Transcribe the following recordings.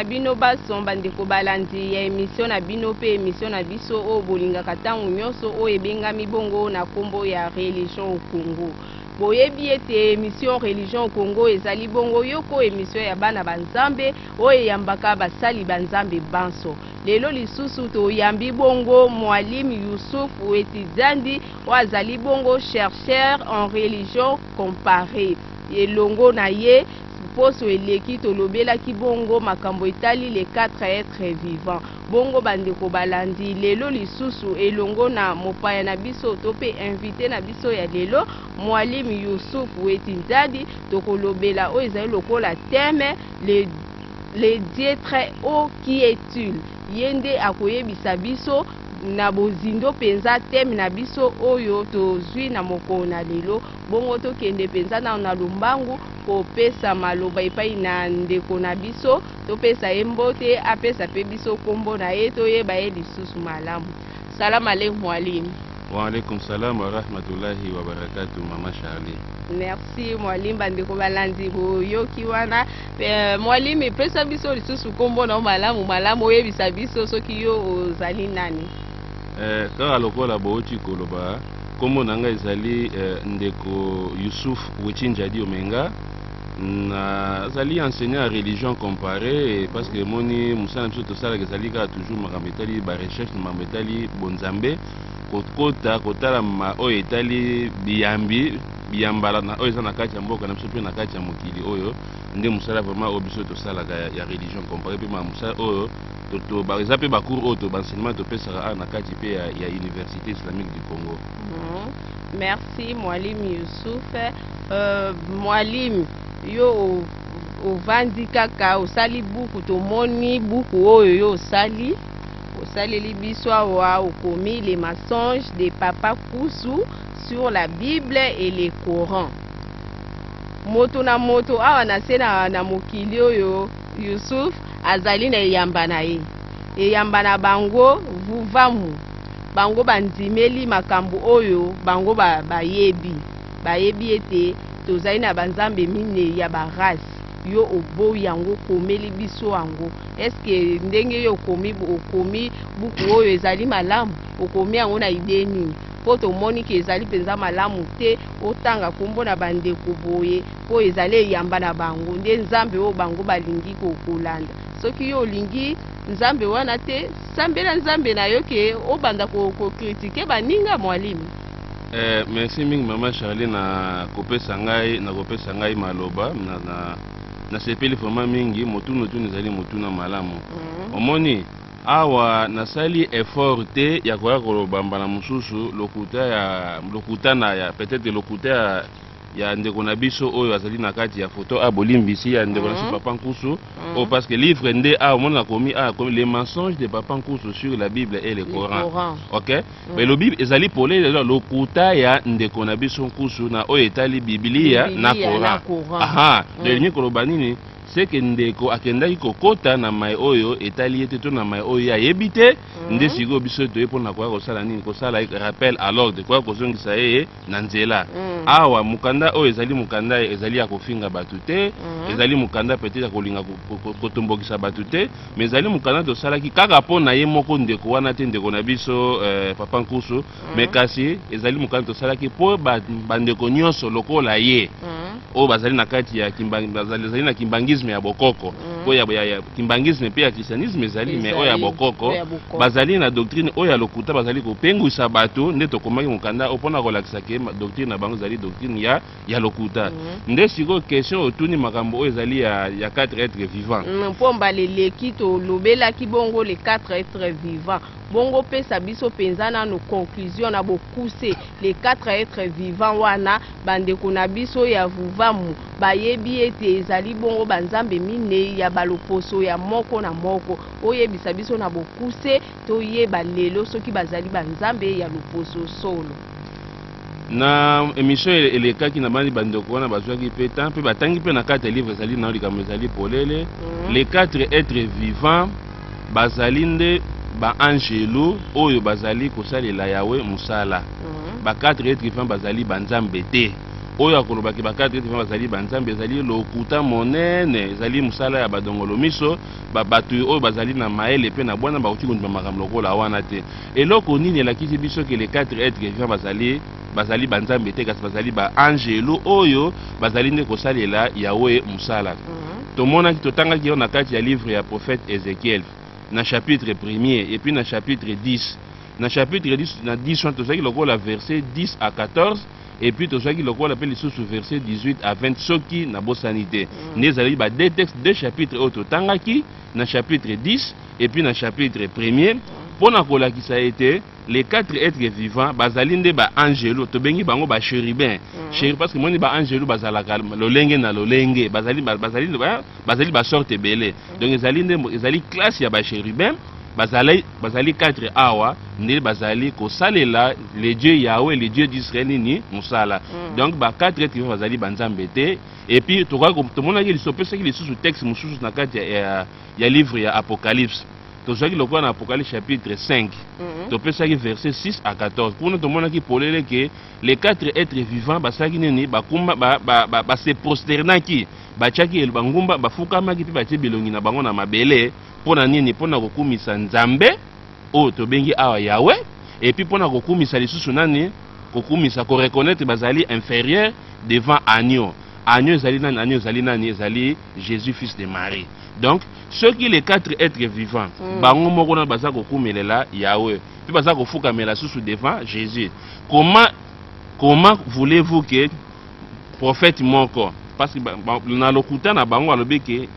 na bino baso bandeko balandi ya emisio na bino mpe emisio na biso oyo bolingaka ntango nyonso oyo ebengami bongo na nkombo ya religion au congo Boyebi ete emission religion au Congo ezali bongo yoko emission ya bana ba Nzambe oyo eyambaka basali ba Nzambe banso. Lelo lisusu toyambi bongo Mualim Youssouf Wetizandi oyo azali bongo chercheur en religion comparee. Elongo na ye poso eleki tolobelaki bongo makambo etali les quatre etres vivants. Bongo bandeko balandi lelo lisusu elongo na mopaya na biso to pe invite na biso ya lelo Mualim Youssouf Weti Nzadi tokolobela oyo ezali lokola thème le le Dieu très haut qui est-il? Ye nde akoyebisa biso na bozindo penza thème na biso oyo tozui na mokolo na lelo. Bongo tokende penza nanu na lombangu kopesa maloba epai na ndeko na biso. Topesa ye mbote, apesa mpe biso nkombo na ye, toyeba ye lisusu malamu. Salam aleik Mwalim. Wa alaikum salam wa rahmatullahi wa barakatuh maman Charlie. Merci Mwalim, bandeko balandi boyoki wana. Pe, Mwalim, pesa biso lisusu nkombo na yo malamu malamu, oyebisa biso soki yo ozali nani. Eh, kaka lokola bowuti koloba, nkombo na ngai ezali eh, ndeko Yusuf Wechinjadi Omenga. nazali enseignant ya religion comparee parce que emoni mosala na biso tosalaka ezali kaka toujours makambo etali barecherche na makambo etali bonzambe kokota kotala oyo etali biyambi biyambala na oyo eza na kati ya mboka na biso mpe na kati ya mokili oyo nde mosala vraiment oyo biso tosalaka ya religion comparee mpe mosala oyo eza mpe bacours oyo to baenseignement topesaka awa na kati mpe ya université islamique du congo mhm. merci mwalimu yusufe Mwalim, yo ovandi kaka osali buku, tomoni buku oyo yo osali osaleli biso awa, okomi les mensonges de papa Kusu sur la Bible et le Coran. Moto na moto awa na se na, na mokili oyo Yusuf azali na eyamba na ye, eyamba na bango vuvamu, bango bandimeli makambo oyo bango bayebi. bayebi ete tozali na ba nzambe mineyi ya ba race yo oboyi yango okomeli biso yango est ce que ndenge yo okomi okomi buku oyo ezali malamu okomi yango na idee nini po tomoni ke ezali penza malamu te otanga kombo na ba ndeko boye po ezali eyamba na bango nde nzambe oyo bango balingi ko kolanda soki yo olingi nzambe wana te sambela nzambe na yo ke obanda ko ko critique baninga mwalimi Eh, merci mingi mama Charlie na kopesa ngai na kopesa ngai maloba na, na, nasepeli vraiment mingi motuna otuni ezali motuna malamu mm. omoni awa nasali effort te ya koya koloba mbala mosusu lokuta ya lokuta na ya peut-être lokuta ya ya ndeko na biso oyo azali na kati ya foto a ah, bolimbisi ya ndeko na biso mhm. papa nkusu mhm. oh, parce que livre nde awa ah, omoni nakomi awa ah, les mensonges de papa nkusu sur la bible et le coran ok Mm. Elobi ezali polele eza lokuta ya ndeko na biso nkusu na oyo etali Biblia na Coran. Aha, mm. elingi koloba nini? seke ndeko akendaki kokota na mai oyo etali ye te to na mai oyo ye ayebi te mm. nde sikoyo biso toye mpo na koya kosala nini kosala rappel à l'ordre koya kozongisa ye na nzela mm. awa mokanda oyo ezali mokanda ezali ya kofinga bato te mm. ezali mokanda peut-être ya kolinga kotombokisa bato te ma ezali mokanda tosalaki kaka mpo na ye moko ndeko wana te ndeko na biso eh, papa nkusu mm. me kasi ezali mokanda tosalaki mpo bandeko ba nyonso lokola ye mm. oyo bazali na kati ya bazali na kimbangisme ya bokoko mm. oyo ya kimbangisme mpe ya christianisme ezali me oyo ya bokoko bazali na doctrine oyo ya lokuta bazali kopengwisa bato nde tokomaki mokanda oyo mpona kolakisa ke doctrine na bango ezali doctrine ya, ya lokuta mm. nde sikoyo question otuni makambo oyo ezali ya, ya 4 etre vivant mm, mpo mbala eleki tolobelaki bongo le 4 etre vivant bongo pesa biso mpenza nano conclusion na bokuse le 4 etre vivant wana Bandeko na biso ya Vuvamu bayebi ete ezali bongo banzambe minei ya baloposo ya moko na moko. Oyebisa biso na bokuse toyeba lelo soki bazali banzambe ya loposo solo. Na emission elekaki nabanzi bandeko wana bazuaki mpe temps mpe batangi mpe na kati ya livre ezali nao likambo ezali polele. Les quatre etres vivants. bazali nde baanjelu oyo bazali kosalela Yawe mosala. Mhm. Ba quatre etre vivant bazali banzambe te. Oyo akoloba ke ba quatre etre vivant bazali banzambe ezali lokuta monene, ezali mosala ya badongolo miso, ba bato oyo bazali na mayele pe na bwana bakoki kondima makambo lokola wana te. Eloko nini elakisi biso ke les quatre etre vivant bazali bazali banzambe te kasi bazali baangelo oyo bazali nde kosalela yawe mosala mhm. tomonaki totangaki yango na kati ya livre ya prophète ezekiel na chapitre premier epuis na chapitre 10 na chapitre 10 na 10 wana tozwaki lokola verset 10 à 14 epuis tozwaki lokola mpe lisusu verset 18 à 20 soki nabosani te mhm. nde ezalaki ba deux texte deux chapitre oyo totangaki na chapitre 10 epuis na chapitre premier mhm. mpo na kolakisa ete les quatre êtres vivants bazali nde ba angelo tobengi bango ba chérubin mm. chérubin parce que moni ba angelo bazalaka lolenge na lolenge bazali bazali bazali ba sorte ebele mm. donc ezali nde ezali classe ya ba chérubin bazali bazali quatre awa nde bazali kosalela le dieu yahweh le dieu d'israel nini mosala mm. donc ba quatre êtres vivants bazali banzambe te et puis tomonaki lisopesaki lisusu texte mosusu na kati ya ya livre ya Apocalypse. Tozwaki lokola na Apocalypse chapitre 5. Mm -hmm. Topesaki verset 6 à 14. Kuna tomonaki polele que les quatre êtres vivants basalaki nini? Bakumba ba, ba, ba, ba se prosternaki, batiaki bangumba, bafukamaki mpe batie bilongi na bango na mabele. Mpo na nini? Mpo na kokumisa Nzambe oyo tobengi awa Yahweh, et puis mpo na kokumisa lisusu nani? Kokumisa, koreconnaitre bazali inferieur devant agneau. Agneau ezali nani? Agneau ezali nani? Ezali Jesus fils de Marie. Donc soki les quatre êtres vivants mm. bango moko na baza kokumelela Yahweh mpe baza kofukamela susu devant Jésus. Comment comment voulez-vous que prophète moko parce que na lokuta na bango alobi ke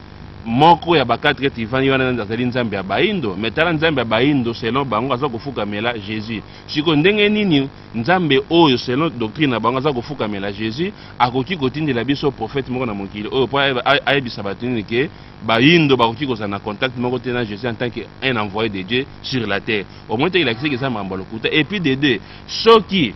moko ya bakatre ete ivani wana azali nzambe ya baindo me tala nzambe ya baindo selon bango aza kofukamela jésus sikoyo ndenge nini Nzambe oyo selon doctrine na bango aza kofukamela Jesus akoki kotindela biso prophète moko na mokili oyo mpo ayebisa bato nini ke bayindo bakoki kozala na contact moko te na Jesus en tant que un envoyé de Dieu sur la terre omoni te elakisaki eza mambo ya lokuta et puis de deux soki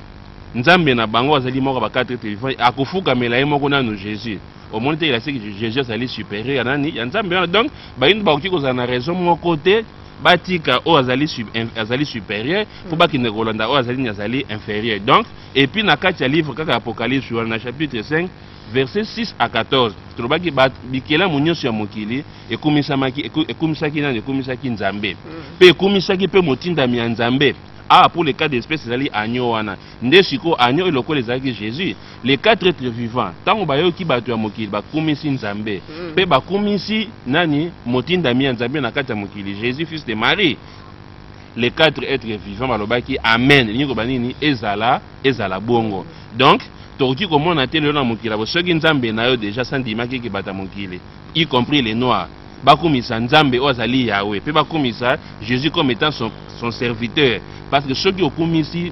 Nzambe na bango azali moko ba quatre êtres vivants akofukamela ye moko nanu Jesus omoni te elakisaki Jesus azali supérieur ya nani ya Nzambe wana donc bayindo bakoki kozala na raison moko te batika oyo azali, azali supérieur mpo hmm. bakende kolanda oyo azali ni azali inférieur donc epuis na kati ya livre kaka apocalypse wana na chapitre 5 verset 6 à 14 tolobaki bikelamu nyonso ya mokili ekumisamaki ekumisaki nani ekumisaki nzambe mpe hmm. ekumisaki mpe motindami ya nzambe awa ah, mpo le cas d'espèce ezali agneau wana nde sikoyo agneau elokola ezalaki jésus les quatre etre vivant ntango bayoki bato ya mokili bakumisi nzambe mm. mpe bakumisi nani motindami ya nzambe na kati ya mokili jésus fils de marie les quatre etre vivant balobaki amen elingi koba nini ezala ezala bongo donc tokoki komona te lelo na mokili abo soki nzambe na yo deja sandimaki ekebata mokili y compris les noirs, bakumisa Nzambe oyo azali Yahweh, pe bakumisa Jesus comme etant son, son serviteur, parce que soki okumisi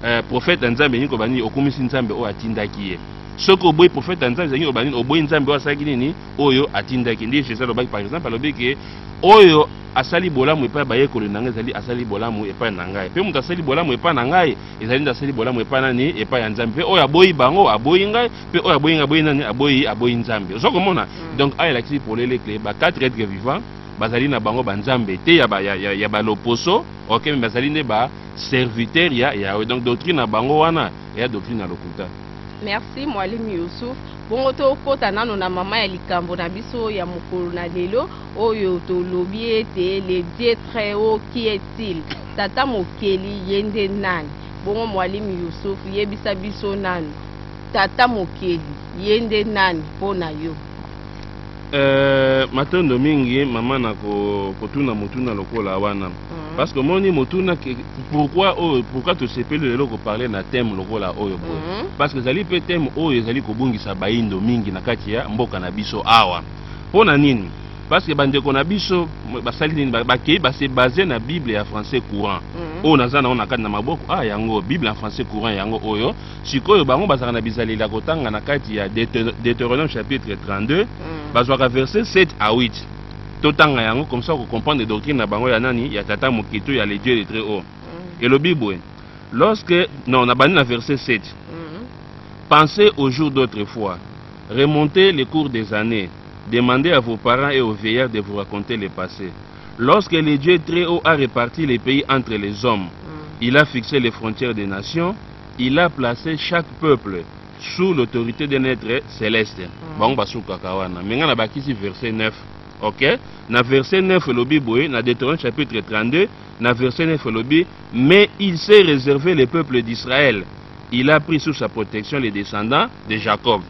euh, prophète ya Nzambe elingi koloba nini? Okumisi Nzambe oyo atindaki ye. Soki oboyi prophète ya Nzambe elingi koloba nini? Oboyi Nzambe oyo asalaki nini? Oyo atindaki. Nde Jesus alobaki par exemple, alobi ke oyo asali bolamu epai ya bayekoli na ngai ezali asali bolamu epai na ngai mpe moto asali bolamu epai na ngai ezali nde asali bolamu epai nani epai ya nzambe mpe oyo aboyi bango aboyi ngai mpe oyo aboyi nga aboyi nani aboyi aboyi nzambe ozo komona mm. donc awa elakisi polele ke ba quatre etre vivant bazali na bango banzambe te ya, ba, ya, ya, ya baloposo ok me bazali nde baserviteur ya yawe donc doctrine na bango wana eya doctrine ya lokuta merci mwalim yusuf bongo tokɔta nano na mama ya likambo na biso ya mokolo na lelo oyo tolobi ete le dieu très haut qui est-il tata mokeli ye nde nani bongo mwalim yusuf yebisa biso nano Tata Mokeli, ye nde nani mpo na yo? Euh, matondo mingi mama na kotuna motuna lokola wana mhm. parce que omoni motuna pourquoi oyo oh, pourquoi tosepeli lelo koparle na thème lokola oyo boye mhm. parce que ezali mpe thème oyo ezali kobungisa baindo mingi na kati ya mboka na biso awa mpo na nini parce que bandeko na biso basali nini bakei base base na bible ya français courant mhm. oyo naza na oyo na kati na maboko ah yango bible ya français courant yango oyo Sikoyo bango bazalaka na bizaleli ya kotanga na kati ya Deuteronome chapitre 32 mm. bazwaka verset 7 à 8 totanga yango comme ça okokomprendre doctrine na bango ya nani ya tata moke to ya le dieu le très haut mm. elobi boye lorsque non nabandi na verset 7 mm. pensez au jour d'autre fois remontez les cours des années demandez à vos parents et aux veilleurs de vous raconter le passé lorsque le dieu très haut a réparti les pays entre les hommes mm. il a fixé les frontières des nations il a place chaque peuple sous l'autorite d'un etre celeste mm. bango basukaka wana me ngai nabakisi verset 9 ok na verset 9 elobi boye na deuteronome chapitre 32 na verset 9 elobi mais il s'est réservé le peuple d'israël il a pris sous sa protection les descendants de jacob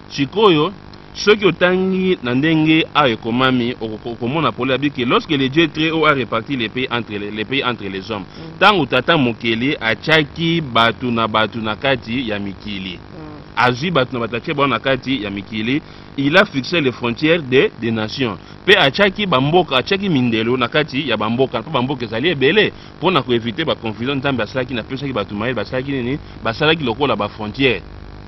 Sikoyo, soki otangi na ndenge awa ekomami, okomona pole abi ke lorsque le Dieu très haut a reparti les pays entre les, les pays entre les hommes, mm. tango tata mokeli atiaki bato na bato na kati ya mikili, mm. azwi bato na bato atie bango na kati ya mikili, il a fixé les frontières de, des nations mpe atiaki bamboka, atiaki mindelo na kati ya bamboka mpo bamboka ezali ebele. mpo na ko eviter ba confusions Nzambe asalaki na pesaki batu mayele basalaki nini basalaki lokola ba frontières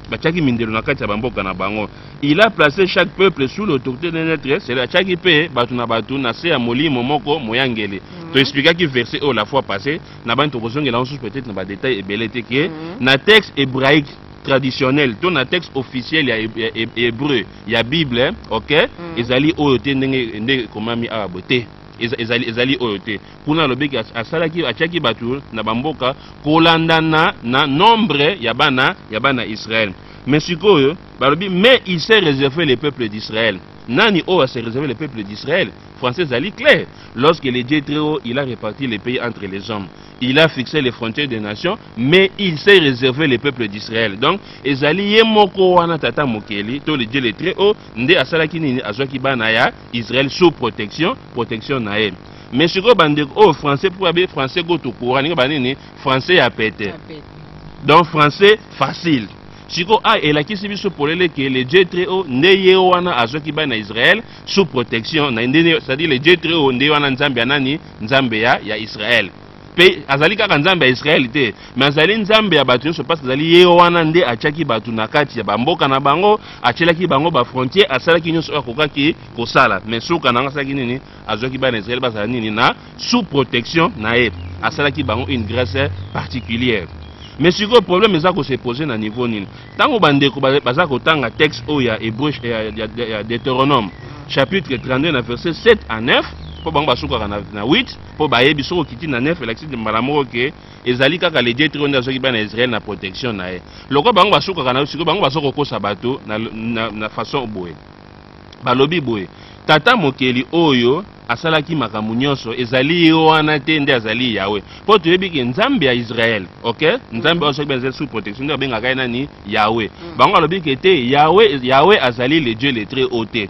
batiaki mindelo na kati ya ba mboka na bango il a place chaque peuple sous l'autorité d'un être c'est atiaki mpe batu na batu na se ya molimo moko moyangeli mm -hmm. to explikaki verset oyo la fois passé na bani tokozongela yango susu peut-être na ba détails ebele te ke mm -hmm. na texte hébraïque traditionnel to na texte officiel ya hébreu ya bible ok mm -hmm. ezali oyo te ndenge nde ekomami awa bo te ezali, ezali oyo te kuna alobeki asalaki atiaki bato na bamboka kolandana na nombre ya bana ya bana israele mais sikoyo balobi mais il s'est réservé le peuple d'israël nani oyo ase réservé le peuple d'israël français ezali clair lorsque le dieu très haut il a réparti les pays entre les hommes il a fixé les frontières des nations mais il s'est réservé le peuple d'israël donc ezali ye moko wana tata mokeli to le dieu le très haut nde asalaki nini azwaki bana ya israël sous protection protection na ye mais sikoyo bandeko oyo oh, français mpo abe français go tokura ndenge banini français ya pete donc français facile sikoyo a ah, elakisi biso polele ke le dieu très haut nde ye wana azwaki bana israel sous protection na nde c'est-à-dire le dieu très haut nde wana nzambe ya nani nzambe ya ya israel mpe azali kaka nzambe ya israele te me azali nzambe ya bato nyonso mpasi azali ye wana nde atyaki bato na kati ya bamboka na bango atyelaki bango bafrontiere asalaki nyonso oyo akokaki kosala me suka na yango asalaki nini azwaki bana Israël bazala nini na sous protection na ye asalaki bango une grèce particulière mais sikoyo problème eza ko se poser na niveau nini ntango bandeko baza kotanga texte oyo ya hébreu ya deutéronome chapitre 32 na verset 7 à 9 mpo bango basukaka na, na 8 mpo bayebi soki okiti na 9 elakisi mbala moko ke ezali kaka le dieu nde azwaki bana ya israel na protection na ye lokola bango basukaka na sikoyo bango baza kokosa bato na, na, na façon boye Balobi boye, Tata Mokeli oyo asalaki makambo nyonso, ezali ye wana te nde azali Yawe? Mpo toyebi ke Nzambe ya Israel, ok, Nzambe oyo soki bazali sous protection nde babengaka ye nani? Yawe. Mm. Bango alobi ke te, Yawe, Yawe azali le Dieu le très haut te.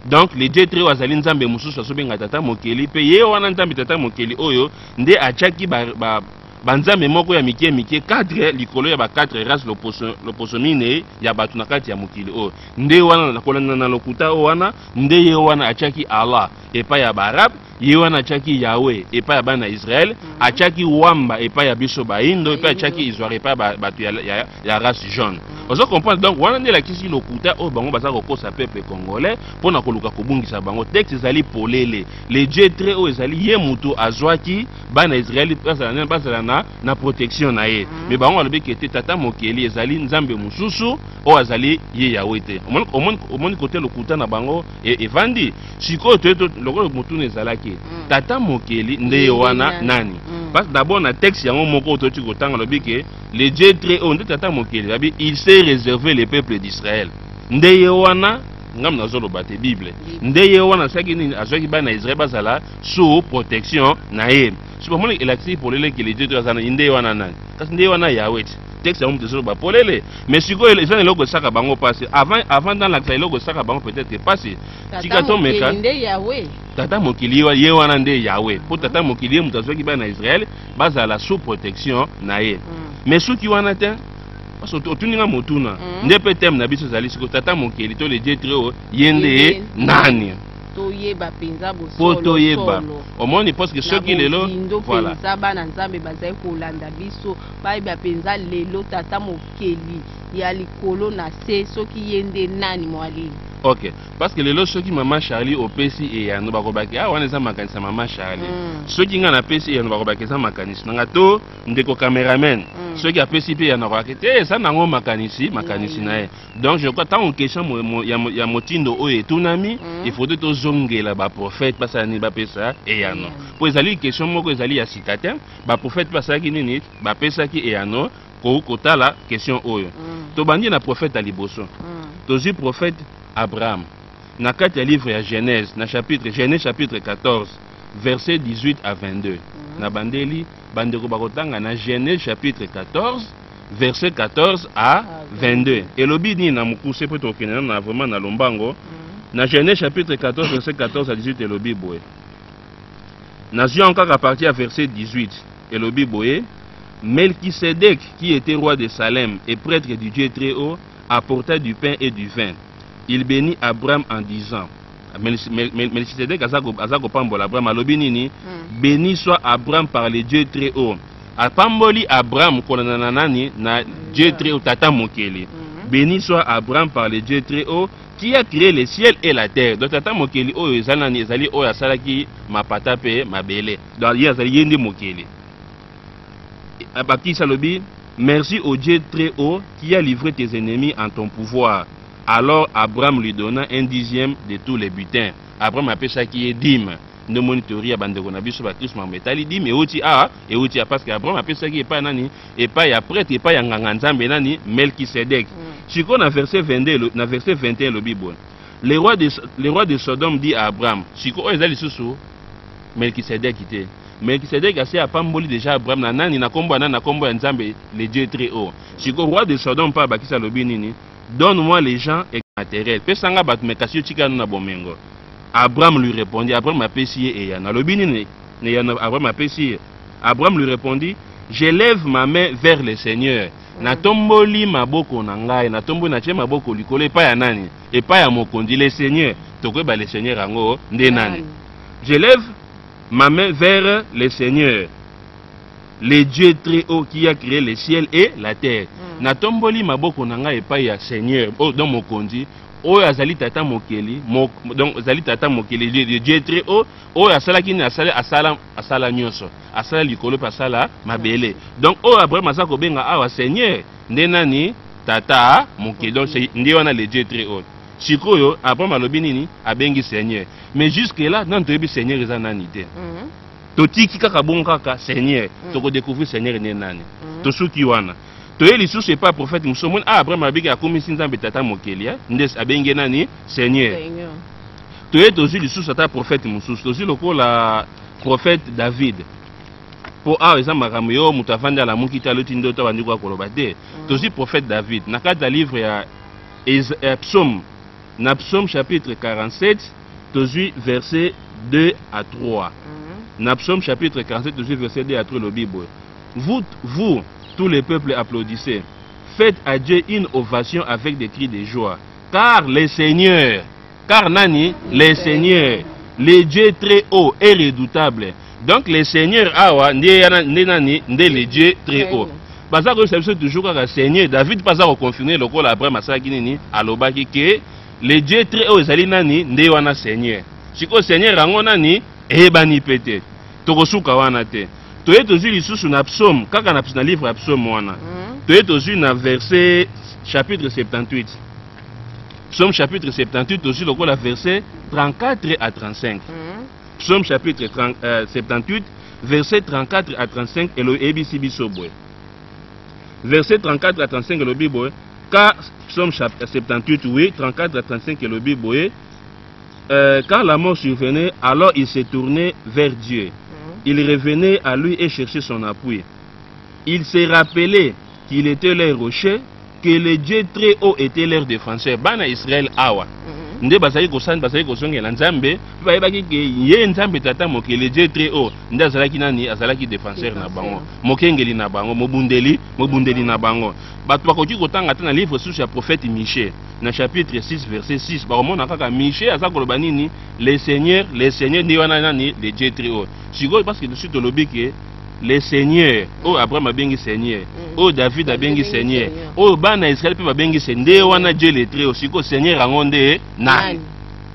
Donc le Dieu très haut azali Nzambe mosusu azobenga Tata Mokeli, mpe ye wana Nzambe Tata Mokeli oyo nde atiaki ba, ba banzambe moko ya mike mike 4 likolo ya ba 4 race loposo, loposo minei ya bato na kati ya mokili oyo nde wana na kolanda na lokuta oyo wana nde ye wana atyaki allah epai ya baarabe ye wana atyaki yawe epai ya bana ya israel mm -hmm. atyaki wamba epai ya biso baindo epai atyaki izware epai ya bato ya, ya, ya race jaune mm -hmm. ozo comprendre donc wana nde elakisi lokuta oyo bango baza kokosa peuple congolais mpo na koluka kobungisa bango texte ezali polele le dieu tre oyo ezali ye moto azwaki bana Israeli bazala nani bazala na na protection na ye mais bango balobi ke te tata mokeli ezali nzambe mosusu oyo azali ye yawe te omoni omoni omoni kote lokuta na bango e- evandi sikoyo toye to- lokola motuna ezalaki tata mokeli nde ye Ye wana nani? nani Mm. parce que d'abord na texte yango moko toyoti kotanga alobi ke le dieu très haut nde tata mokeli alobi il s'est réservé le peuple d'israël nde ye wana ngambo nazoloba te bible Bible. nde ye wana asalaki nini azwaki bana ya israel bazala sous protection na ye so bamoni elakisi polele ke lidieu to aza na nde wana nani kasi nde wana yawe ti texte yango moto ezoloba polele mais sikoyo eza na eloko esaka bango mpasi avant avant nalakisa eloko esaka bango peut-être ke mpasi tika tomeka tata mokili ye wana nde yawe mpo tata mokili ye moto azwaki bana na israele bazala sous protection na ye mm. mais soki wana te parce que otuni nga motuna mm. nde mpe teme na biso ezali sikoyo tata mokeli to le dieu très haut ye nde nani toyeba mpenza bosolo toyeba omoni parce que soki lelo voilà mpenza bana nzambe bazali kolanda biso bayeba mpenza lelo tata mokeli ya likolo na se soki ye nde nani mwalili ok parce que lelo soki mama charlie opesi eyano bakobaki ah wana eza makanisi ya mama charlie mm. soki ngai napesi eyano bakobaki eza makanisi nanga to ndeko cameraman mm. soki apesi mpe eyano akobaki te eza nango makanisi makanisi mm. na ye donc je crois ntango question ya motindo oyo etunami mm. efaudrait tozongela baprofete basala nini bapesa eyano mpo mm. ezali question moko ezali ya sika te baprofete basalaki nini bapesaki eyano kotala question oyo mm. tobandi na profete ya liboso tozwi profete abraham na kati ya livre ya genèse na chapitre genèse chapitre 14 verset 18 à 22 na bandeli bandeko bakotanga na genèse chapitre 14 verset 14 à 22 ah, elobi nini na mokuse mpo tokokende nano na vraiment na lombango mm. na genèse chapitre 14 verset 14 à 18 elobi boye nazwi yango kaka parti ya verset 18 elobi boye melkisedek qui était roi de salem et prêtre du dieu très haut apporta du pain et du vin il bénit abraham en disant Melchisedek aza kopambola Abraham alobi nini hmm. béni soit Abraham par le Dieu très haut apamboli Abraham kolanda na nani na Dieu très haut tata mokeli hmm. béni soit Abraham par le Dieu très haut qui a créé le ciel et la terre donc tata mokeli oyo ezali nani ezali oyo asalaki mapata mpe mabele donc ye azali ye nde mokeli bakisi alobi merci au Dieu très haut qui a livré tes ennemis en ton pouvoir Alors Abraham lui donna un dixième de tous les butins. Abraham apesaki ye dime. Nde omoni theorie ya bandeko na biso bakristo makambo etali dime euti awa euti ya parce que Abraham apesaki epai ya nani epai ya prêtre epai ya nganga nzambe nani Melchisedek mm. sikoyo na verset 22 na verset 21 elobi boye le roi de, le roi de Sodome dit à Abraham sikoyo oyo eza lisusu Melchisedek te Melchisedek asi apamboli déjà Abraham na nani na kombo ya nani na kombo ya nzambe le Dieu très haut sikoyo roi de Sodome mpe abakisi alobi nini donne moi les gens et matériel pesa nga bato me kasi yo tika no na bomengo abraham lui répondit abraham apesi ye eyano alobi nini na eyano abraham apesi ye abraham lui répondit j'élève ma main vers le seigneur mm. natomboli maboko na ngai natomboli natie maboko likolo epai ya nani epai ya mokonzi le seigneur tokoyeba le seigneur yango nde nani j'élève ma main vers le seigneur Le Dieu très haut qui a créé le ciel et la terre. Mm. Natomboli maboko na ngai epai ya Seigneur, oh, donc mokonzi oyo azali tata mokeli mo, donc azali tata mokeli le Dieu très haut oyo asalaki nini asala asala asala nyonso asala likolo mpe asala mabele donc oyo Abraham aza kobenga awa Seigneur nde nani tata mokeli donc nde wana le Dieu très haut sikoyo Abraham alobi nini abengi Seigneur mais jusque là nani toyebi Seigneur eza nani te mm -hmm. totiki kaka bongo kaka seigneur mm. toko découvrir seigneur ne nani mm. tosuki wana toye lisusu epai prophète mosusu omoni ah abraham abiki akomisi nzambe tata mokeli eh? nde abenge nani seigneur toye tozwi lisusu ata prophète mosusu tozwi lokola prophète david mpo awa ah, eza makambo yo moto avandi alamuki te aloti ndoto abandi koya koloba te mm. tozwi prophète david na kati ya livre ya psaume na psaume chapitre 47 tozwi verse 2 à 3 mhm. na psaume chapitre 47 tozwi verse 2 à 3 elobi boye vous, vous tous les peuples applaudissez faites à dieu une ovation avec des cris de joie car le seigneur car nani le seigneur le dieu très haut et redoutable donc le seigneur awa nde nani nde le dieu très haut baza koyebisa biso toujours kaka seigneur david mpe aza koconfirme lokola abraham asalaki nini alobaki ke Le Dieu très haut ezali nani nde wana Seigneur. Sikoyo Seigneur yango nani eyebani mpe te. Tokosuka wana te. Toye tozwi lisusu na psaume kaka na, na livre ya psaume wana. Mm. Toye tozwi na verset chapitre 78. Psaume chapitre 78 tozwi lokola verset 34 à 35. Mm. Psaume chapitre 30, euh, 78 verset 34 à 35 et le ABC Bisobwe. Verset 34 à 35 et le Bible Car psaume 78, oui, 34 à 35 elobi boye, euh, quand la mort survenait, alors il se tournait vers Dieu. Mhm. Il revenait à lui et cherchait son appui. Il se rappelait qu'il était leur rocher, que le Dieu très haut était leur défenseur. Bana Israël awa. Mhm. nde bazali kosani bazali kozongela nzambe mpe bayebaki ke ye nzambe tata mokili dieu très haut nde azalaki nani azalaki défenseur na bango mokengeli na bango mobundeli mobundeli na bango bato bakoki kotanga ata na livre susu ya prophète miche na chapitre 6 verset 6 bakomona kaka miche aza koloba nini le seigneur le seigneur nde wana nani le dieu très haut sikoyo parce que tosi tolobi ke le seigneur oyo abraham abengi seigneur mm. oyo david abengi seigneur oyo bana ya israel mpe babengi se nde wana dieu le très haut sikoyo seigneur yango nde nani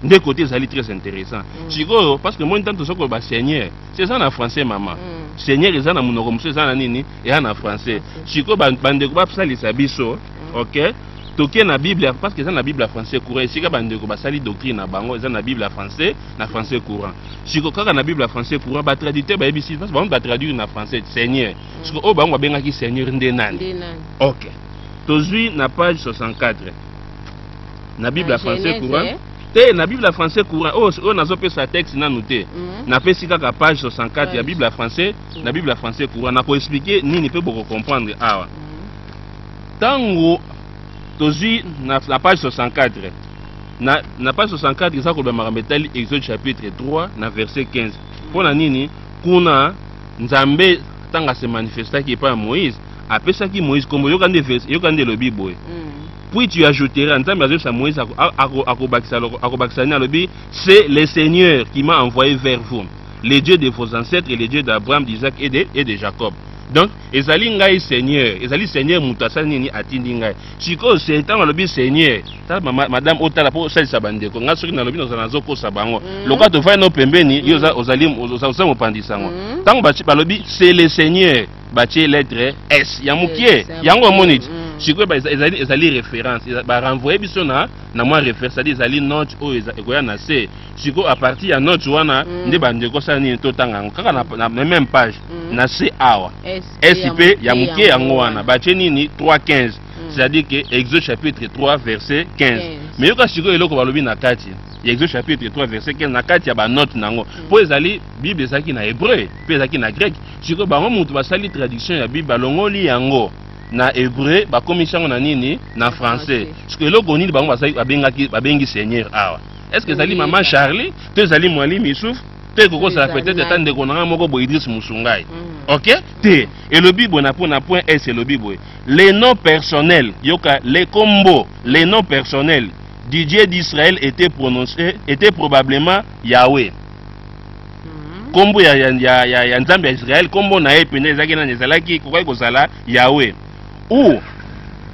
nde côté ezali très intéressant mm. sikoyo parce que moi ntango toza koloba seigneur se eza na français mama mm. seigneur eza na monoko mosusu eza na nini eya na français sikoyo bandeko basalisa biso mm. ok toke na bible parce que eza na bible ya français courant esika bandeko basali doctrine na bango eza na bible ya français na français courant siko kaka na bible ya français courant batraditeur bayebisi parce bango batraduire na français seigneur mm. siko oyo bango babengaki seigneur nde nani ok tozwi na page 64 na bible ya français courant eh? te na bible ya français courant oyo oh, oh, nazopesa texte nanu te mm. napesi kaka page 64 ya bible ya français na bible ya français courant na ko expliquer nini pe boko comprendre awa tango tozui na, na page 64 na, na page 64 eza koloba makambo etali exode chapitre 3 na verset 15 mpo na nini kuna nzambe ntango asemanifestaki epai ya moïse apesaki moïse nkombo yoka nde yoka nde elobi boye mm. puis tu ajouteras nzambe azoyebisa moïse akobakisa nini alobi c'est le seigneur qui m'a envoyé vers vous le Dieu de vos ancêtres, le Dieu d'Abraham, d'Isaac et de, et de Jacob. Donc, ezali ngai Seigneur, ezali Seigneur moto asali nini atindi ngai. Sikoyo ntango alobi Seigneur, tala ma, madame otala mpo osalisa bandeko. Ngai soki nalobi nazala nazokosa bango. Mm -hmm. Lokola tofai no pembeni, mm -hmm. yo ozali ozali mopandisa yango. Mm -hmm. balobi c'est le Seigneur, batie lettre S ya mokie. Yango omoni ti. Mm -hmm. sikoyo ezali référence barenvoye biso na na mwa référence ezali note oyo ekoya na se siko apartir ya note wana mm. nde bandeko osala nini totanga yango kaka na, na, na même page mm. na se awa sp ya moke yango wana batie nini 315 mm. c'est-à-dire que exode chapitre 3 verset 15 yes. me yoka sikoyo eloko balobi na kati ya exode chapitre 3 verset 15 na kati ya banote na yango mpo mm. ezali bible ezalaki na hébreu mpe ezalaki na grec sikoyo bango moto basali traduction ya bible balongoli yango na hébreu bakomisi yango na nini na français sikoyo eloko nini bango babengaki babengi seigneur awa est ce que ezali mama charlie to ezali mwali misuf to ekokosala peut-être ata ndeko na ngai moko boye idris musungai mm. ok te elobi boye na mpona point s elobi boye le nom personnel yoka le combo le nom personnel du dieu d'israël était prononcé était probablement yahweh nkombo ya, ya, ya, ya nzambe ya israele nkombo na ye mpenza ezalaki nani ezalaki kokaki kozala yawe ou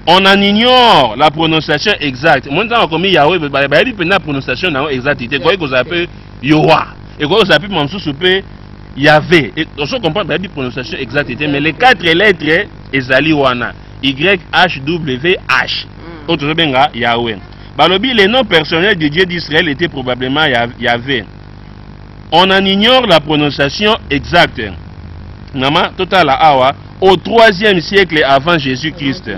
on en ignore la prononciation exacte omoni ntango akomi yawe bayebi mpenza prononciation na yango exacte te ekoki kozala mpe yowa ekoki kozala mpe ma mosusu mpe yave ozo comprendre bayebi prononciation exacte te mais les quatre lettres ezali wana yhwh oyo tozobenga yawe balobi le nom personnel du dieu d'israël était probablement yave on en ignore la prononciation exacte nama totala awa au troisième siècle avant jésus-christ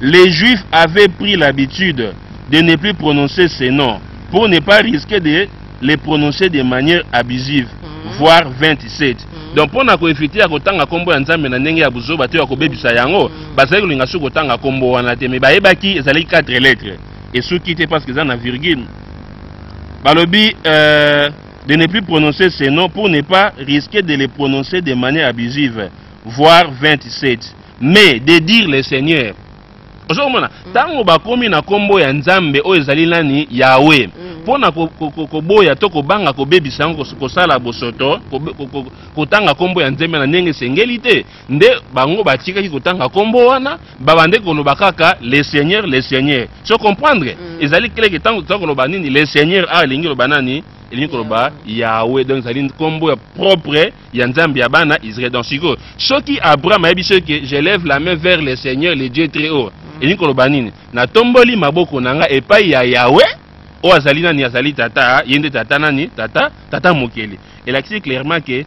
les juifs avaient pris l'habitude de ne plus prononcer ces noms pour ne pas risquer de les prononcer de manière abusive mm. voire 27 mm. donc mpo na koevite ya kotanga nkombo ya nzambe na ndenge ya buzoba to ya kobebisa yango mm. bazali kolinga soki kotanga nkombo wana te me bayebaki ezalaki 4 lettre esuki te parce que eza na virgule balobi euh, de ne plus prononcer ces noms pour ne pas risquer de les prononcer de manière abusive voire 27 mais de dire le seigneur ozo komona ntango mm. bakomi na nkombo ya nzambe oyo ezali nani yawe mpo mm. na koboya to kobanga kobebisa yango kosala bosoto kotanga nkombo ya nzambe na ndenge esengeli te nde bango batikaki kotanga kombo wana babande koloba kaka le seigneur le seigneur so comprendre mm. ezali keleke ntango toza koloba nini le seigneur a ah, elingi koloba nani elingi koloba yawe donc ezali nkombo ya propre ya nzambe ya bana israel donc sikoyo soki abraham ayebi so ke je lève la main vers le seigneur le dieu très haut mm. elingi koloba nini natomboli maboko na ngai epai ya yawe oyo azali nani azali tata ye nde tata nani tata tata mokeli elakisi clairement ke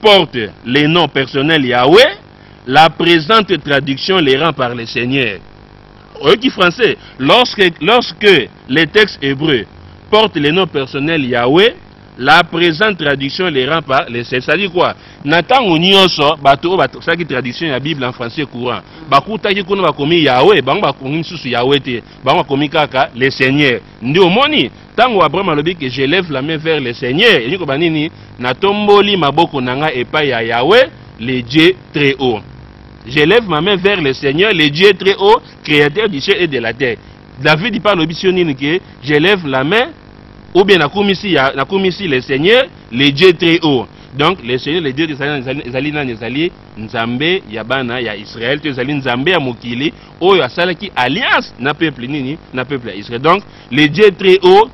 porte le nom personnel Yahweh, la presente traduction le rend par le Seigneur. Oyoki français, lorsque, lorsque le texte hébreu porte le nom personnel Yahweh, la presente traduction le rend par le Seigneur. C'est-à-dire quoi? Na tango nioso bato oyo basaki traduction ya Bible en français courant, bakutaki kuna bakomi Yahweh, bango bakomi misusu Yahweh te, bango bakomi kaka le Seigneur. Nde omoni? ntango abraham alobi ke je lève la main vers le seigneur elingi koba nini natomboli maboko na ngai epai ya yawe le dieu très haut je lève ma main vers le seigneur le dieu très haut créateur du ciel et de la terre david mpe alobi sio nini ke je lève la main ou bien nakumisi ya nakumisi le seigneur le dieu très haut donc le seigneur le dieu ezali nani ezali nzambe ya bana ya israel to ezali nzambe ya mokili oyo asalaki alliance na peuple nini na peuple ya israel donc le dieu très haut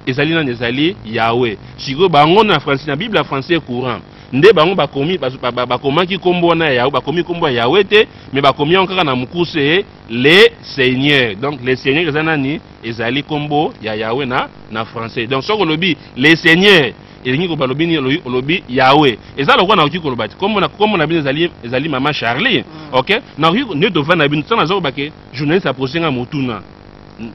ezali nani ezali yawe sikoyo bango na français na bible ya français courant nde bango bakomi bakomaki nkombo wana ya yawe bakomi nkombo ya yawe te me bakomi yango kaka na mokuse le seigneur donc le seigneur eza nani ezali nkombo ya yawe na na français donc soki olobi le seigneur elingi koloba lobi nini olobi yawe eza lokola nakoki koloba te nkombo na bino ezali ezali mama charlie mm. ok nakoki nde tovanda bino ntango naza kobake journaliste apose nga motuna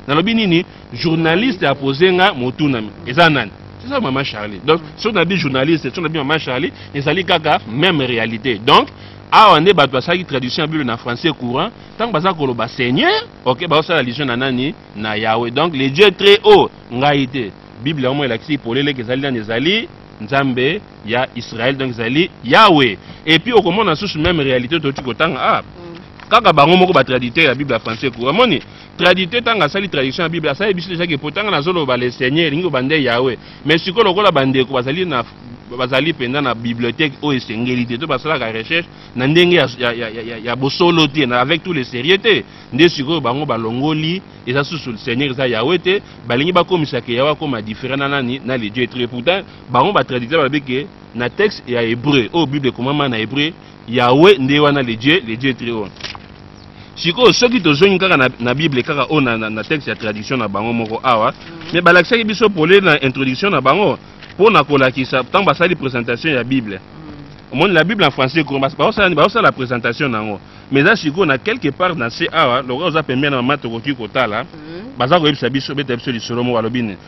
nalobi nini journaliste apose nga motuna eza nani eza mama charlie donc soki nabi journaliste soki nabi mama charlie ezali kaka même réalité donc awa nde bato basalaki traduction ya bible na français courant ntango baza koloba seigneur ok baosala allusion na nani na yawe donc le dieu très haut ngai te bible yango elakisi polele ke ezali nani ezali nzambe ya Israël donc ezali Yawe et puis okomona susu même réalité toki kotanga ah mm. kaka bango moko ba traditeur ya Bible ya français ko amoni traditeur tanga sali tradition ya Bible asali biso déjà que potanga na zolo ba le Seigneur lingo bande Yawe mais siko lokola bande ko bazali na bazali mpenza na bibliothèque oyo esengeli te to basalaka recherche na ndenge ya, ya, ya, ya, ya bosolo te na avec tous les sérieux te nde sikoyo bango balongoli eza susu seigneur eza yawe te balingi bakomisaka yawe akoma différent na nani na le dieu etre pourtant bango ba traducteur balobi ke na texte ya hebreu oyo oh, bible ekomama na hebreu yawe nde wana le dieu le dieu très haut sikoyo soki tozongi kaka na, na bible kaka oyo oh, na, na, na texte ya tradition na bango moko awa mm. me balakisaki biso pole na introduction na bango mpo na kolakisa ntango basali présentation ya bible mm. omoni la bible en français baosala présentation na yango mais eza sikoyo na quelque part na se awa lokola oza pembeni na mama tokoki kotala mm. baza koyebisa biso beta biso lisolo moko alobi nini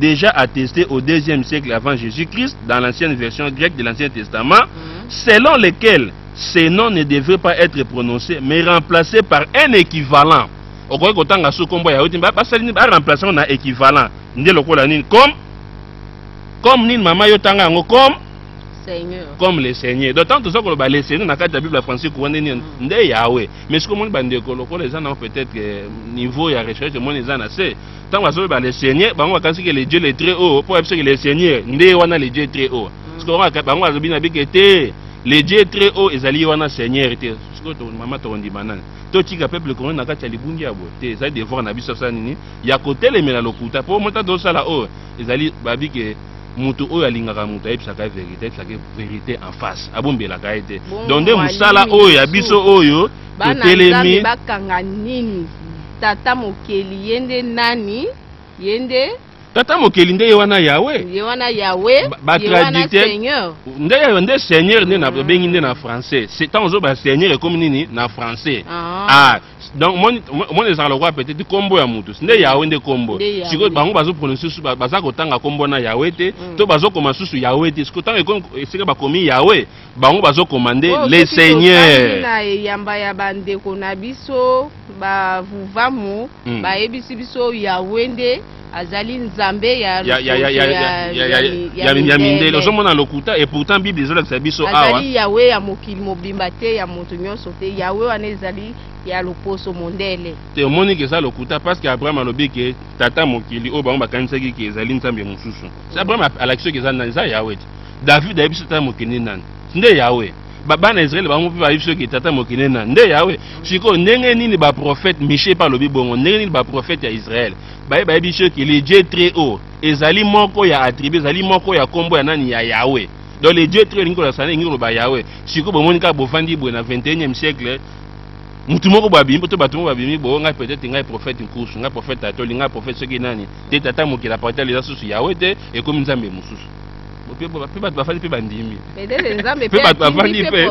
déjà attesté au deuxième siècle avant Jésus-Christ dans l'ancienne version grecque de l'Ancien Testament, mm. selon lequel ces noms ne devraient pas être prononcés, mais remplacés par un équivalent. okoki kotanga su nkombo ya yoti basali nini baremplace yango na équivalent nde lokola nini comme comme nini mama yo tanga yango comme Seigneur. comme le seigneur donc ntango toza koloba le seigneur na kati ya bible ya francique wana nini mm. nde yawe mais soki omoni bandeko lokola eza nango peut-être euh, niveau ya recherche omoni eza na se ntango bazoloba le seigneur bango bakanisi ke le dieu le très haut mpo bayebi ke le seigneur nde wana le dieu très haut mm. sikoyo bango balobi na bike te le dieu très haut ezali ye wana seigneur te sikoyo mama tokondima nani totika peuple congolais na kati ya libungi ya boye te ezali devoir na biso asala nini ya kotelemela lokuta mpo mota tozosala oyo ezali babi ke moto oyo alingaka moto ayebisaka ye verité ayebisaka ye verité en face abombelaka ye te donc nde mosala oyo ya biso oyo totelemi bakanga nini tata mokeli ye nde nani ye nde tata mokeli nde ye wana yawe ye wana yawe batraditeur nde yawe nde seigneur nde na babengi mm. nde na français ntango ozoba seigneur ekomi nini na français ah, ah donc moni ezalaka lokola peut-être nkombo ya motu nde yawe nde nkombo sikoyo bango bazoprononce susu baza kotanga nkombo na yawe te mm. to bazokoma susu yawe te sikoyo ntango esika bakomi yawe bango bazo commande oh, le seigneur na eyamba ya bandeko na biso bavuvamu mm. bayebisi biso yawe nde azali nzambe ya ya mindele ozomona lokuta et pourtant bible ezolakisa biso awa azali yawe ya mokili mobimba te ya moto nyonso te yawe wana ezali ya loposo mondele te omoni ke eza lokuta parce que abraham alobi ke tata mokili oyo bango bakanisaki ke ezali nzambe mosusu abraham alakisi oyo ke eza yawe te david ayebi biso tata moke nde nani nde yawe bana ya israele bango mpe bayebi soki tata moke nde nani nde yawe sikoyo ndenge nini baprofete mishe mpe alobi bongo ndenge nini baprofete ya israele baye bayebi soki le dieu très haut ezali moko ya attribut ezali moko ya nkombo ya nani ya yawe donc le dieu très haut elingi kolakisa nini elingi koloba yawe sikoyo bomoni kaka bofandi boye na 21e siècle mutu moko babimi mpo to bato moko babimi bo ngai peut-être ngai prophète nkusu ngai prophète ato olingai prophète soki nani te tata mokili apartel eza susu yawe te ekomi nzambe mosusu pe bo pe bato bafandi pe bandimi pe bato bafandi pe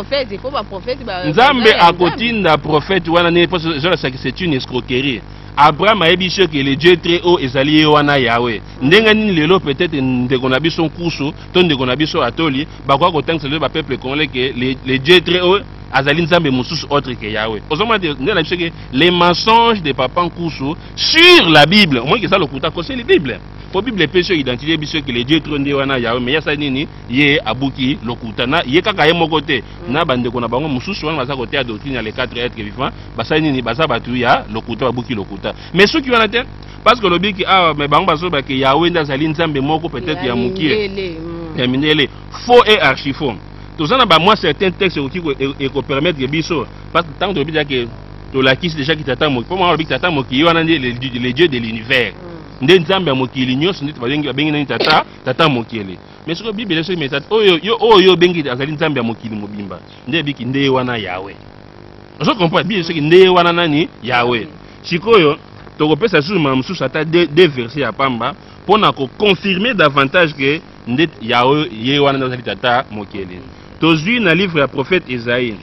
nzambe akotinda prophète wana nini po ezolasaki c'est une escroquerie abraham ayebi biso eke le dieu très haut ezali ye wana yawe ndenge nini lelo peut-être ndeko na biso nkusu to ndeko na biso atoli bakoka kotangisa lelo bapeuple congolais ke le dieu très haut azali nzambe mosusu autre ke yawe ozomona te ndenge na biso eke les mensonges de papa nkusu sur la bible omoniki eza lokuta akoseli bible po bible epesi yo identité biso ke le dieu tro nde wana yawe me yasali nini ye abuki lokuta na ye kaka ye moko te mm. na bandeko na bango mosusu wana baza koteya doctrine ya le 4 etre vivant basali nini baza bato ya lokuta babuki lokuta me soki wana te parce que olobi ke awa ah, me bango bazoloba ke yawe nde azali nzambe moko peut-être ya mokie mm. ya mindele faux et archifaux toza na bamwa certain texte ekoki ekopermettre biso parce que ntango tolobi dake tolakisi déjà kitata moki mpo mwana olobi kitata moki ye wana nde le dieu de l'univers mm. nde nzambe ya mokili nyonso nde babengi babengi nani tata tata mokili mais soki bibele soki meta oyo yo oyo obengi azali nzambe ya mokili mobimba nde ebiki nde wana yawe ozo comprendre bibele soki nde wana nani yawe sikoyo tokopesa lisusu mbala mosusu ata de verse ya pamba mpo na koconfirme davantage ke nde yawe ye wana nde azali tata mokili tozwi na livre ya prophète esaïe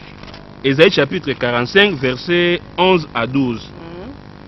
esaïe chapitre 45 verset 11 à 12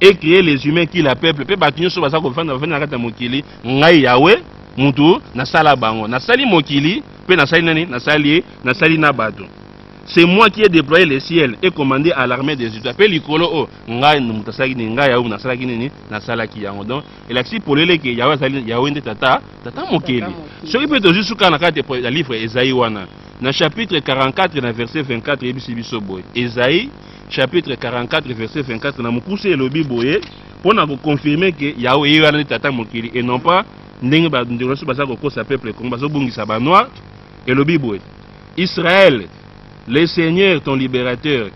et cree les humains qui la peuple mpe bato nyonso baza kofanda bafandi na kati ya mokili ngai yawe mutu nasala bango nasali mokili mpe nasali nani nasali nasali na bato c'est moi qui ai déployé le ciel et commandé à l'armée des étoiles mpe likolo oyo oh, ngai moto asalaki nini ngai yawe nasalaki nini nasalaki yango donc elakisi polele eke yawe azali yawe nde tata tata mokeli soki mpe tozwi suka na kati ya livre ezai wana na chapitre 44 na verset 24 eyebisi biso boye ezai chapitre 44 verset 24 na mokuse elobi boye mpo na koconfirme ke yao eye wana nde tata mokili et non pas ndenge bandeko nyonso baza kokosa peuple congo bazobungisa banoir elobi boye israel le seigneur ton libérateur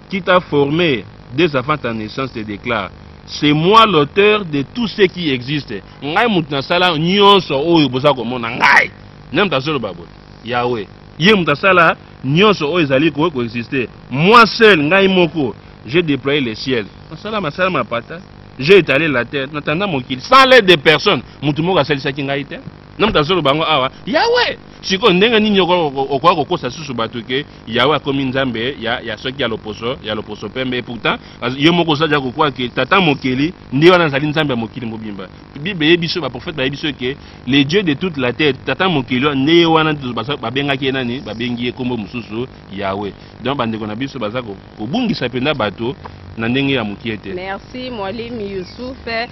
qui t'a formé dès avant ta naissance te déclare c'est moi l'auteur de tout ce qui existe ngai moto nasala nyonso oyo boza komona ngai nde moto azoloba boye Yahweh. Ye moto asala nyonso oyo ezali ko coexister. Moi seul, ngai moko, j'ai deployé le ciel. Nasala masala mapata. J'ai étalé la terre. Natanda mokili sans l'aide de personne. Moto moko asalisaki ngai te. Na moto azoloba yango awa, Yahweh! Sikoyo ndenge nini okoka kokosa lisusu bato ke Yahweh akomi Nzambe ya, ya soki ya loposo, ya loposo pembe? Et pourtant, yo moko oza deja kokwa ke tata mokeli nde wana azali Nzambe ya mokili mobimba. bible eyebi biso baprofete bayebi biso eke le dieu de toute la terre tata mokili wana nde ye wana babengaki ye nani babengi ye nkombo mosusu yawe donc bandeko na biso baza kobungisa mpenza bato na ndenge ya mokie te merci mwalimi yusufe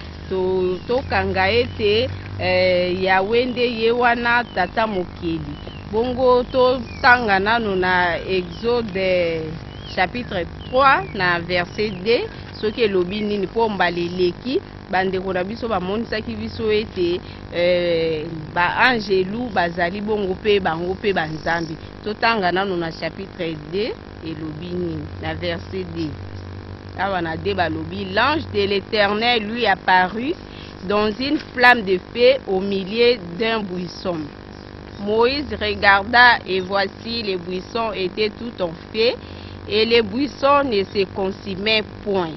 tokanga to ete eh, yawe nde ye wana tata mokeli bongo totanga nano na exode chapitre 3 na verset 2 soki elobi nini mpo mbala eleki Bandeko na biso bamonisaki biso ete eh, baangelu bazali bongo mpe bango mpe banzambe. Totanga nano na chapitre 2 elobi nini na verset 2 awa na 2 balobi l'ange de l'éternel lui apparut dans une flamme de feu au milieu d'un buisson. Moïse regarda et voici les buissons étaient tout en feu et les buissons ne se consumaient point.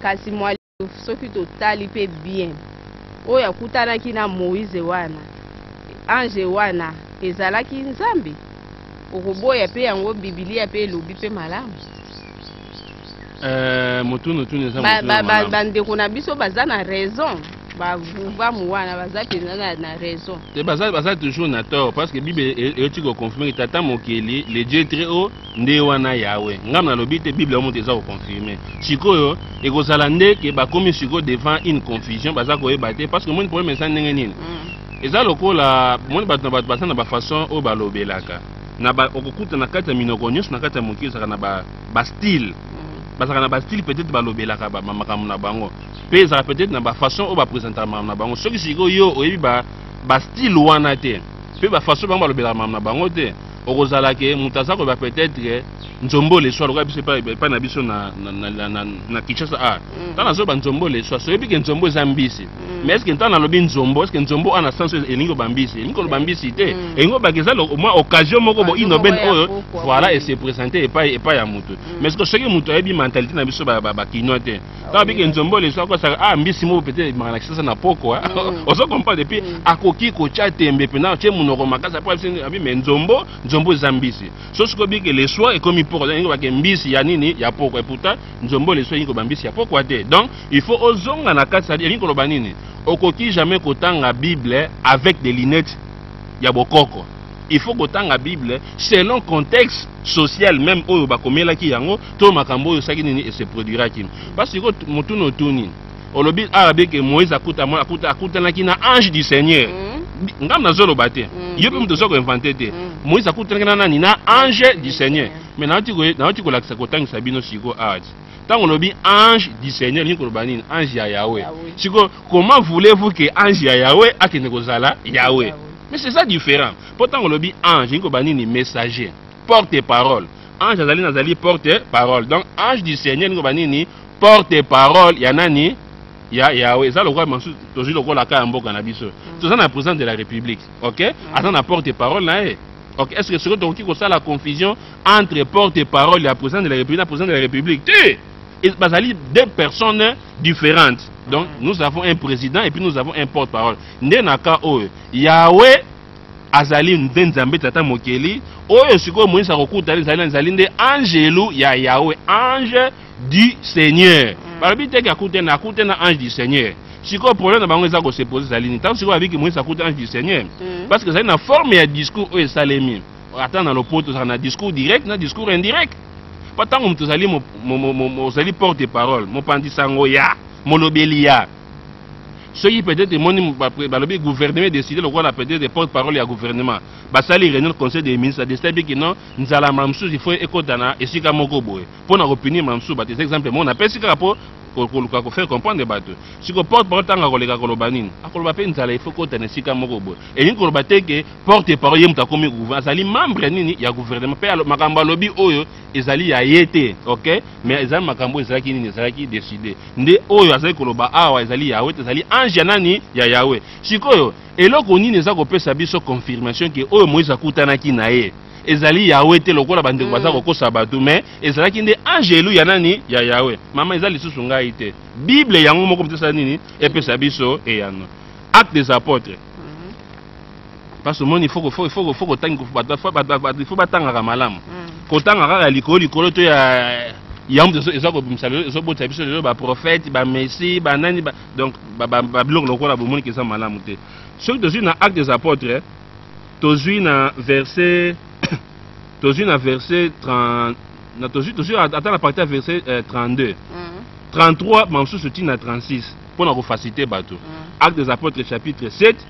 Kasi Mwalimu, soki totali mpe bien, oyo akutanaki na Moise wana, ange wana, ezalaki Nzambe? Okoboya mpe yango, Bibilia mpe elobi mpe malamu. Eh, motunu tunu eza motunu ya malamu. Bandeko na biso baza na raison. bavuvamu wana baza mpenza na, na raison te baza, baza toujours na tort parce que bible eyoti koconfirme tata mokeli le dieu très haut nde wana yawe ngambo nalobi te bible yango moto eza koconfirme sikoyo ekozala nde ke bakomi sikoyo devant une confusion baza koyeba te parce que omoni problème eza ndenge nini mm. eza lokola omoni bato na bato baza na bafaçon oyo balobelaka na ba, okokuta na kati ya minoko nyonso na kati ya mokili ezalaka na bastyle ba mm. bazalaka na bastyle peut-être balobelaka makambo na bango mpe ezalaka peut-être na bafaçon oyo bapresentaka makambo na bango soki sikoyo yo oyebi bastyle ba wana te mpe bafaçon bango balobelaka makambo na bango te okozala ke moto aza koyeba peut-être nzombo leswa lokola biso epai na biso na kinshasa a mm. ntango nazoba nzombo leswa soyebi ke nzombo eza mbisi mm. mais eske ntango nalobi nzombo eske nzombo ana sens oyo elingi koba mbisi elingi koloba mbisi te mm. elingi kobaka eza mwa occasion moko boinobene oyo voilà ese présente epai epai ya moto mais soki moto ayebi mentalité na biso bakinois te kaka biki nzombo leso akosaka ah mbisi moko pete ebimaka na kisasa na poko ah. mm. ozo comprendre epuis mm. akoki kotya tembe mpena tye monoko makasi apo abi me nzombo nzombo eza mbisi so soki obiki leswa ekomi poko donc ingo bake mbisi ya nini ya poko eputa nzombo leswa elingi koba mbisi ya pokwa te donc il faut ozonga na kati sadi elingi koloba nini okoki jamais kotanga bible avec des lunettes ya bokoko il faut kotanga bible selon contexte social même oyo bakomelaki yango to makambo oyo esaki nini ese produiraki mpasi sikoyo motuna otuni olobi awa beke moïse akuta mwana akuta akutanaki na ange du seigneur mm. ngambo nazoloba te mm. yo mpe moto oza koinvente te mm. moïse akutanaki na nani na ange du seigneur mais nauti kolakisa kotangisa bino sikoyo awa ti ntango olobi ange du seigneur elingi koloba nini ange ya yawe sikoyo comment voulez-vous que ange ya yawe akende kozala yawe mais c'est ça différent mpo ntango olobi ange elingi koloba nini messager porte parole ange azali nazali porte parole donc ange du seigneur elingi koloba nini porte parole ya nani ya yawe eza lokola masusu tozwi lokola ka ya mboka na biso mm. toza na président de la république ok mm. aza na porte parole na ye ok est ce que soki tokoki kosala confusion entre porte parole ya président de la république na président de la république te bazali deux personnes différentes donc mm. nous avons un président et puis nous avons un porte parole nde na cas oyo yawe Azali nde Nzambe Tata Mokeli, oyo sikoyo Moïse akokuta ezali nani? Ezali nde angelu ya Yahweh, ange du Seigneur. Mm. Balobi te ke akute na akute na ange du Seigneur. Sikoyo problème na bango eza ko se poser ezali nini? Tango sikoyo babi ke Moïse akute ange du Seigneur, mm. parce que ezali na forme ya discours oyo esalemi. Ata na lopoto ezalaka na discours direct na discours indirect. Mpo ntango moto ozali ozali porte parole mopanzi sango ya molobeli ya soki peut-être emoni balobi gouvernement décide lokola peut-être porte parole ya gouvernement basali réunion conseil des ministres décide biki non nzala mbala mosusu ifo ekota na esika moko boye mpo na kopinir mbala mosusu bato eza exemple moko napesi kaka mpo koluka kofaire comprendre bato siko porte parole ntango akoleka koloba nini akoloba mpe nzala ifo ekota na esika moko boye elingi koloba te ke porte parole ye moto akomi gouvernement azali membre nini ya gouvernement mpe makambo alobi oyo ezali ya ye te ok mais ezali makambo ezalaki nini ezalaki decide nde oyo azali koloba awa ezali yawe te ezali ange ya nani ya yawe sikoyo eloko nini eza kopesa biso confirmation ke oyo moïse akutanaki na ye ezali yawe te lokola bandeko baza mm. kokosa bato mais ezalaki nde angelu ya nani ya yawe mama eza lisusu ngai te bible yango moko motesa nini epesa biso eyano acte des apôtres parce omoni il faut ko faut faut faut kotangi bata faut bata il faut batangaka malamu mm. kotanga kaka likolo likolo to ya yango biso eza kobimisa lelo ezobotisa biso lelo baprofete bamessi banani ba, donc babiloko lokola bomoni ke eza malamu te soki tozwi na acte des apôtres tozwi na verset tozwi na verset 30 na tozwi tozwi ata na parti ya verset 32 33 bamosusu ntina 36 mpo na kofacilite bato mm. acte des apôtres chapitre 7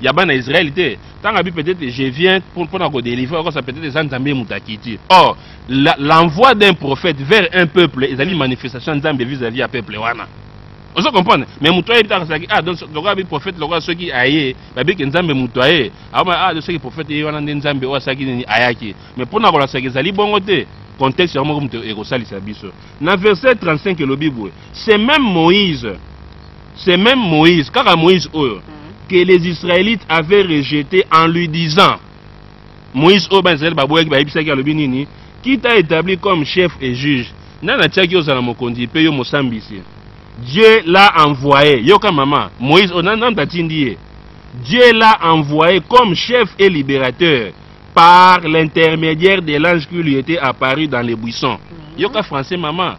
ya bana Israël te tanga bi peut-être je viens pour pour ko délivrer encore ça peut-être eza Nzambe mutu akiti or l'envoi d'un prophète vers un peuple ezali manifestation Nzambe vis-à-vis ya peuple wana ozo comprendre mais mutu ayebi taka saki ah donc lokola bi prophète lokola soki aye babi ke Nzambe mutu aye ah ah soki prophète ye wana nde Nzambe oyo asaki nini ayaki mais pona kola saki ezali bongo te contexte yango moko moto ekosalisa biso na verset 35 elobi boye c'est même Moïse c'est même Moïse, kaka Moïse oyo, mm-hmm. que les Israélites avaient rejeté en lui disant, Moïse oyo ba Israël baboyaki bayebisaki alobi nini, qui t'a établi comme chef et juge, nani atiaki ozala mokonzi mpe yo mosambisi. Dieu l'a envoyé, yoka mama, Moïse oyo nani tatindi ye. Dieu l'a envoyé comme chef et libérateur par l'intermédiaire de l'ange qui lui était apparu dans les buissons. Mm-hmm. Yoka français mama.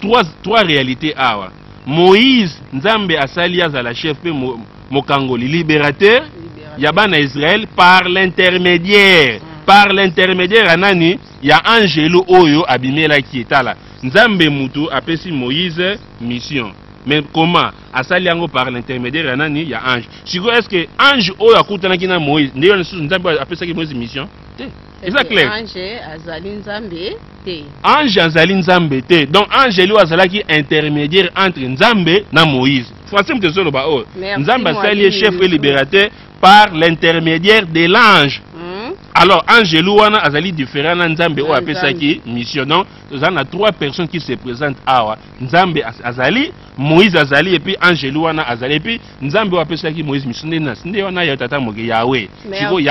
trois, trois realite awa moïse nzambe asali azala chef mpe mo, mokangoli libérateur ya bana israel par l'intermédiaire mm. par l'intermédiaire ya nani ya angelu oyo abimelaki etala nzambe mutu apesi moïse mission mais comment asali yango par l'intermédiaire ya nani ya ange sikoyo est ce que ange oyo akutanaki na moïse nde yo lisusu nzambe apesaki moïse mission te eza clair ange azali nzambe te ange azali nzambe te donc angelo azalaki intermédiaire entre nzambe na moïse français moto ezoloba oyo oh. nzambe asali ye chef et libérateur par l'intermédiaire de l'ange hmm? alors angelu wana azali différent na nzambe oyo apesaki mission donc toza na trois personnes qui se présente awa nzambe azali moïse azali epuis angelu wana azali epuis nzambe oyo apesaki moïse mission nde wana ya tata moke yawe sikoyo